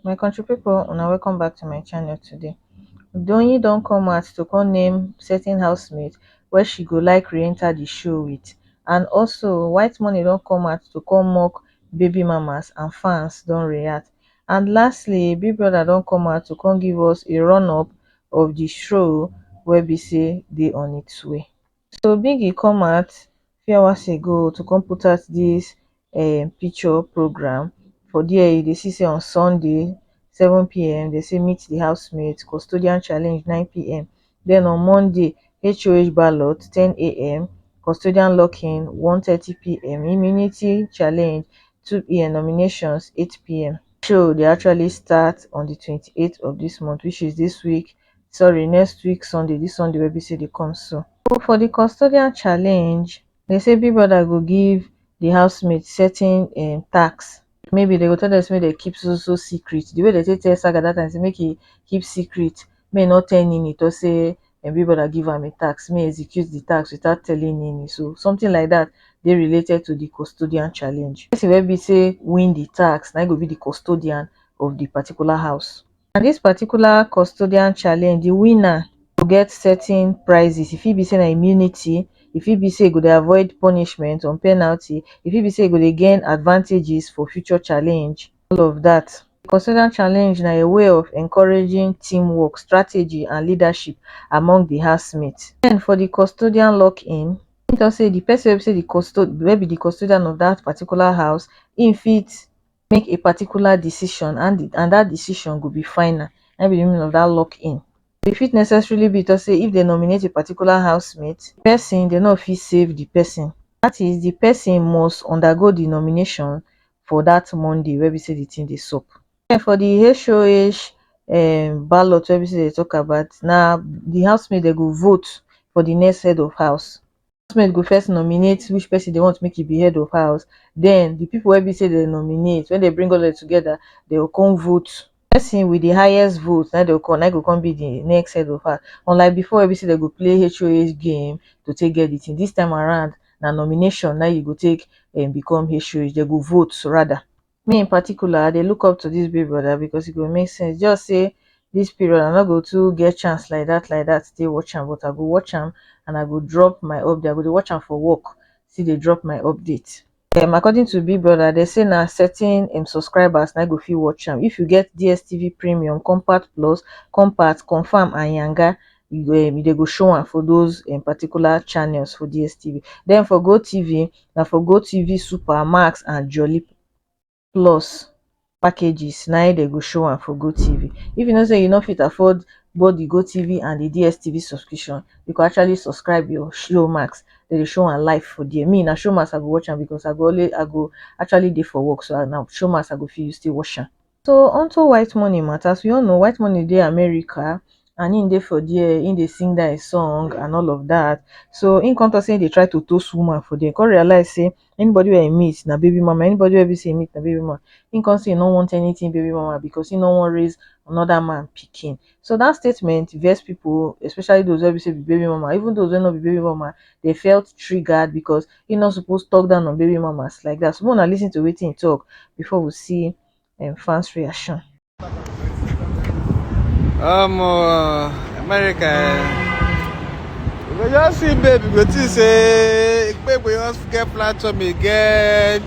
my country people una welcome back to my channel today Doyin don come out to come name certain housemate where she go like re-enter the show with and also white money don come out to come mock baby mamas and fans don react and lastly big brother don come out to come give us a run up of the show wey be say dey on its way so biggy come out few hours ago to come put out dis um picture programme for dia you dey see say on sunday seven pm dem say meet di housemates custodian challenge nine pm den on monday HOH ballot ten am custodian locking one thirty pm immunity challenge two pm nominations eight pm show dey actually start on di twenty eight of dis month which is dis week sorry next week sunday dis sunday wey be sey dey come so. So for di custodian challenge, dem sey big brother go give di house mate certain um task, maybe dem go tell dem sey make dem keep so so so secret, di way dem take tell Saga dat time sey make e keep secret, make e nor tell Nini talk sey im big brother give am di task, make e execute di task without telling Nini, so something like dat dey related to di custodian challenge. Person wey be sey win di task, na im go be di custodian of di particular house. na dis particular custodian challenge di winner go get certain prizes e fit be say na immunity e fit be say e go dey avoid punishment or penalty e fit be say e go dey gain advantages for future challenge all of dat custodian challenge na a way of encouraging team work strategy and leadership among di house mate den for di custodian lock in im talk say di person wey be say di custodian wey be di custodian of dat particular house im fit make a particular decision and and dat decision go be final na im be di meaning of dat lock in e fit necessarily be to say if dem nominate a particular house mate di pesin dem no fit save di pesin dat is di pesin must undergo di nomination for dat Monday wey be say di tin dey sup. Den for di HOH um ballot wey be say dem dey tok about na di house mate dem go vote for di next head of house. housemaid go first nominate which person dey want make e be head of house den the people wey be say dem nominate when dem bring all of dem together dey go come vote person with the highest vote na im dey go come na im go come be the next head of house unlike before wey be say dem go play HOH game to take get the thing this time around na nomination na im you go take um become HOH dem go vote rather me in particular i dey look up to dis big brother because e go make sense just say dis period i no go too get chance like dat like dat take watch am but i go watch am and i go drop my update i go dey watch am for work still dey drop my update um according to big brother dem say na certain im subscribers na go fit watch am if you get dstv premium compact plus compact confam and yanga you go um dey go show am for those um particular channels for dstv den for gotv na for gotv super max and jolly plus packages na im dey go show am for gotv if you know say you no fit afford both the gotv and the dstv subscription you go actually subscribe your showmax dem dey show am live for there me na showmax i go watch am because i go always i go actually dey for work so na showmax i go fit use take watch am So on to White Money matter, as we all know White Money dey America and him dey for there, him dey sing that song and all of that. So him come talk say he dey try to toast woman for there, come realize say anybody where he meet na baby mama, anybody where be say he meet na baby mama. Him come say he no want anything baby mama because he no want raise another man picking. So dat statement vex pipo, especially those wey be say be baby mama, even those wey no be baby mama, dem felt triggered because he no suppose talk down on baby mamas like that. So make una listen to wetin he talk before we see um, fans reaction. Um, uh, America, eh, you go just see baby, you go think say Ekpegbe just get platform again.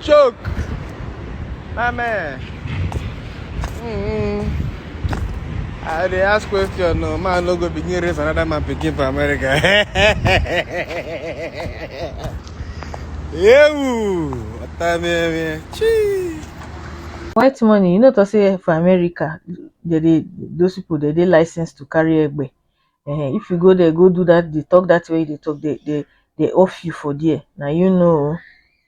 Choke. My man. Mm-hmm. I dey ask question no man no go begin raise another man pikin for America. Ewu! Ọ̀tá mi ẹ̀ mi ẹ̀. Chii! white money you no talk say for america they dey those people they dey licensed to carry egbe um if you go there go do that dey talk that thing wey you dey talk dey dey dey off you for there na you know o.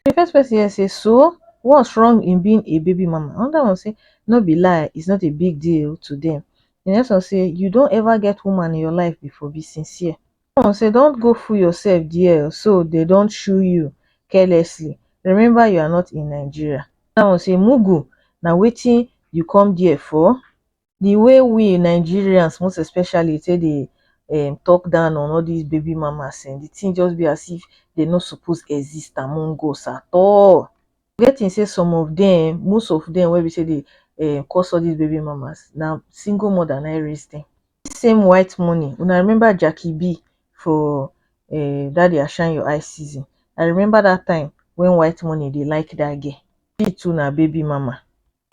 The first person here say so what's wrong in being a baby mama another one say no be lie it's not a big deal to them the next one say you don ever get woman in your life before be sincere the one say don't go fool yourself there so they don't shoo you carelessly remember you are not in Nigeria another one say mugu na wetin you come there for. di way we nigerians most especially take dey um talk down on all dis baby mamas um di thing just be as if dey no suppose exist among us at all you get think say some of dem um most of dem wey be say dey um cause all dis baby mamas na single mother na im raise dem dis same white money una remember Jackie B for um that their shine your eyes season I remember that time when white money dey like that girl she too na baby mama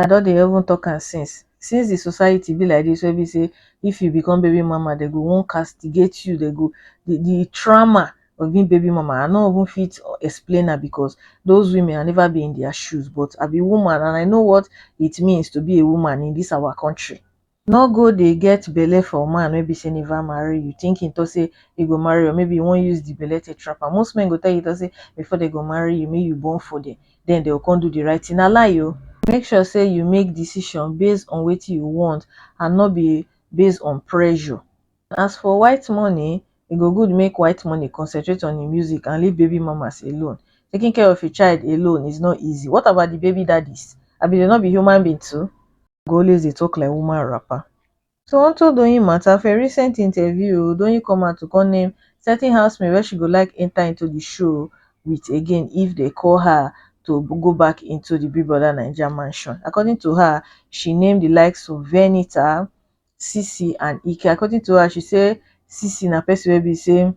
I don dey even talk am since, since the society be like this wey be say if you become baby mama dem go wan castigate you, dem go the the trauma of being baby mama I no even fit explain am because those women I never be in their shoes but I be woman and I know what it means to be a woman in this our country. No go dey get belle for man wey be sey never marry you think him talk sey he go marry you or maybe he wan use the belle take trap am. Most men go tell you talk sey before dem go marry you make you born for dem then dem go come do the right thing. Na lie o! Make sure sey you make decision base on wetin you want and no be base on pressure. As for white money, e go good make white money concentrate on im music and leave baby mamas alone. Taking care of a child alone is not easy. What about the baby daddies? Abi dem no be human being too? go always dey talk like woman wrapper so on top doyin matter for a recent interview o doyin come out to come name certain housemates wey she go like enter into the show with again if dem call her to go back into the big brother naija mansion according to her she name the likes of venita, sisi and ike according to her she say sisi na person wey be say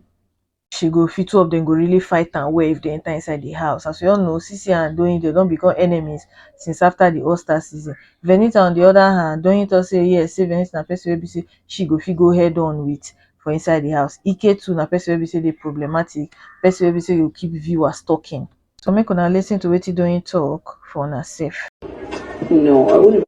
she go feel two of dem go really fight am well if dem enter inside the house as we all know Sisi and Doyin dem don become enemies since after the All Star season Venita on the other hand Doyin talk say yes say Venita na person wey be say she go fit go head on with for inside the house Ike too na person wey be say dey problematic person wey be say go keep viewers talking so make una listen to wetin Doyin talk for una sef. No, I wouldn't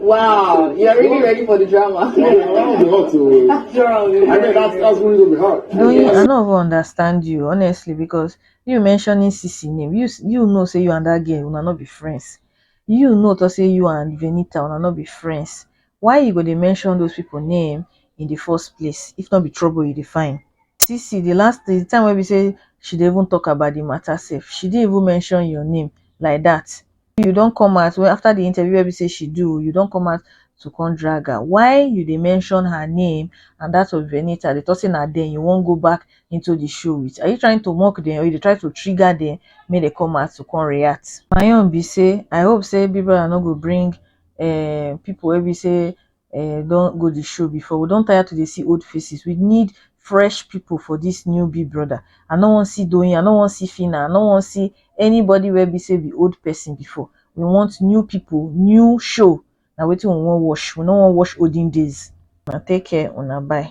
Wow, you are really ready for the drama. Wow, wow, be hot oh. That's wrong. I mean, that's that's really gonna be hard. No, you, I don't even understand you honestly because you mentioning Sisi name. You you know say you and that girl una not be friends. You know to say you and Venita una not be friends. Why you go dey mention those people name in the first place? If not be trouble you define. Sisi, the last the time when we say she didn't even talk about the matter safe. She didn't even mention your name like that. you don come out wey after the interview wey be say she do you don come out to come drag her why you dey mention her name and that of Venita dey talk say na dem you wan go back into the show with are you trying to mock them or you dey try to trigger them make dem come out to come react my own be say I hope say Big Brother no go bring um people wey be say um don go the show before we don tire to dey see old faces we need fresh people for this new big brother i no wan see doyin i no wan see phyna i no wan see anybody wey be say be old person before we want new people new show na wetin we wan watch we no wan watch olden days una take care una bye.